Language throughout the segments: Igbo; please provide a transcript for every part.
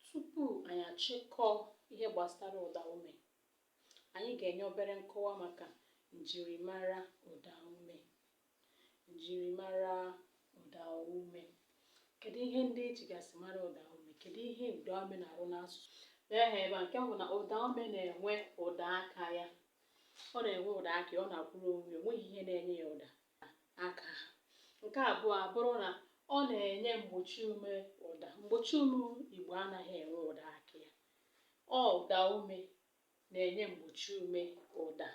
Tupu anyị achịkọọ ihe gbasara ụdaume, anyị ga-enye obere nkọwa maka njirimara ụdaume. Njirimara ụdaume. Kedu ihe ndị e jigasị mara ụdaume? Kedu ihe ụdaume na-arụ n'asụsụ? Ehe, ebe a, nke mbụ na ụdaume na-enwe ụda aka ya. Ọ na-enwe ụda aka ya, ọ na-akwụrụ onwe ya, o nweghị ihe na-enye ya ụda. aka. Nke abụọ abụrụ na ọ na-enye mgbochi ume ụda. Mgbochi ume Igbo anaghị enwe ụda aka ya. Ọ ụda ume na-enye mgbochi ume ụda.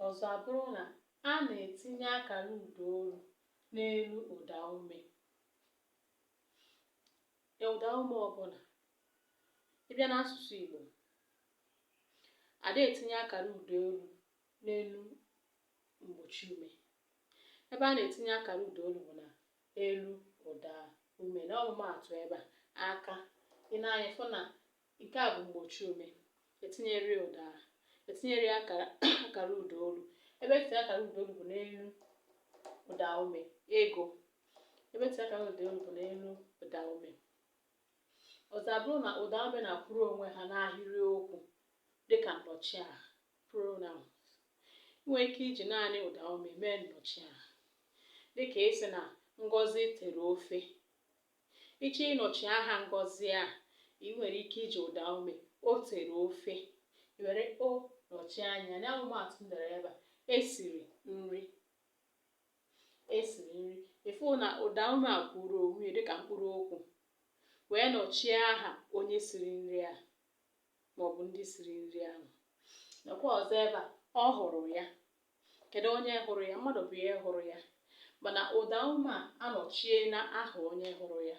Ọzọ abụrụ na a na-etinye akara ụda olu n'elu ụda ume. Ụda ume ọbụla ị bịa n'asụsụ Igbo ada etinye akara ụda olu n'elu mgbochi ume ebe a na-etinye akara ụda olu bụ na elu ụda ume na ọmụmaatụ ebe a aka i nee anya fụ na nke a bụ mgbochi ume etinyerọ ya ụda etinyerọ ya akara akara ụda olu ebe etinye akara ụda olu bụ n'elu ụda ume ego ebe etinye akara ụda olu bụ n'elu ụda ume Ọzọ abụrụ na ụdaume na-akwụrụ onwe ha n'ahịrịokwu dịka nnọchiaha, pronouns. I nwere ike iji naanị ụdaume mee nnọchiaha dịka ịsị na Ngozi tere ofe. Ị chọọ ịnọchi aha Ngozi a, i nwere ike iji ụdaume o tere ofe. I were o nọchie anya ya. N'ọmụmaatụ m dere ebe a, e siri nri. esiri nri ị fụ na ụda ume a kwụrụ onwe ya dịka mkpụrụ okwu wee nọchie aha onye siri nri a maọbụ ndị siri nri ahụ nakwa ọzọ ebe a ọ hụrụ ya kedu onye hụrụ ya mmadụ bụ ihe hụrụ ya mana ụda ume a anọchiena aha onye hụrụ ya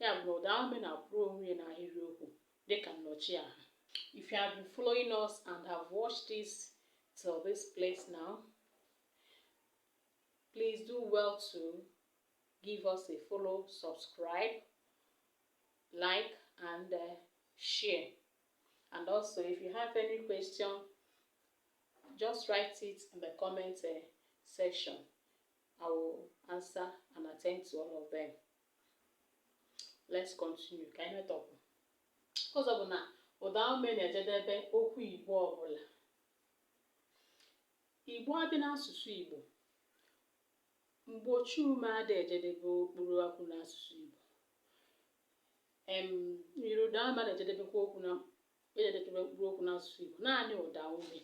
ya bụ na ụda ume na-akwụrụ onwe ya n'ahịrịokwu dịka nnọchi aha if you have been following us and have watched this till this place now Please do well to give us a follow, subscribe, like, and uh, share. And also, if you have any question, just write it in the comment uh, section. I will answer and attend to all of them. Let's continue. Ka anyị metọpụ. Ọzọ bụ na ụda ume na-ejedebe okwu Igbo ọbụla. Igbo adị n'asụsụ Igbo. Mgbochi ume ada ejedebe mkpụrụ okwu n'asụsụ Igbo. Em nyiri ụda ume na-ejedebekwa okwu na-ejedebekwa mkpụrụ okwu n'asụsụ Igbo naanị ụda ume.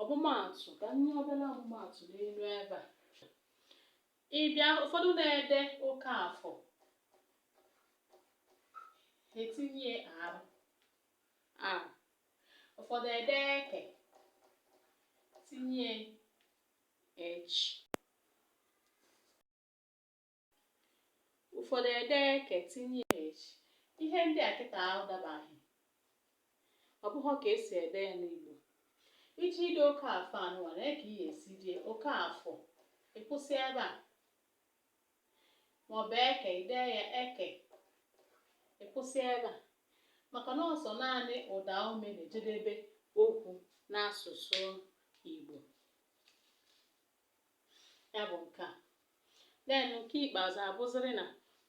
Ọmụmaatụ ka m nye obere ọmụmaatụ n'elu ebe a. Ị bịa ụfọdụ na-ede Okafọ etinye R a ụfọdụ ede eke tinye H ụfọdụ ede eke tinye H ihe ndị a kịta ahụ dabaghị ọ bụghị ka esi ede ya n'Igbo iji ide Okafọ a nụwa nee ka ị ya-esi dee Okafọ ị kwụsị ebe a maọbụ eke i dee ya eke ị kwụsị ebe a maka na ọ sọ naanị ụda ume na-ejedebe okwu n'asụsụ Igbo ya bụ nke a then nke ikpeazụ abụzịrị na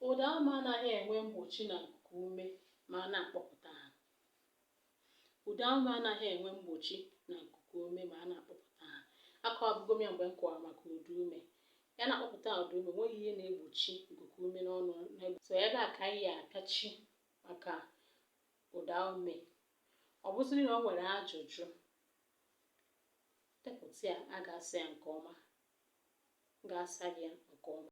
ụda ume anaghị enwe mgbochi na nkuku ume ma a na-akpọpụta ha Ụdaume anaghị enwe mgbochi na nkukuume ma a na-akpọpụta ha. Akọwabugo m ya mgbe m kọwara maka ụdaume. Ya na-akpọpụta ụdaume, o nweghị ihe na-egbochi nkukuume n'ọnụ. So ebe a ka anyị ya-apịachi maka ụdaume. Ọ bụzịrị na o nwere ajụjụ, depụta ya, a ga-asa ya nke ọma. M ga-asa gị ya nke ọma.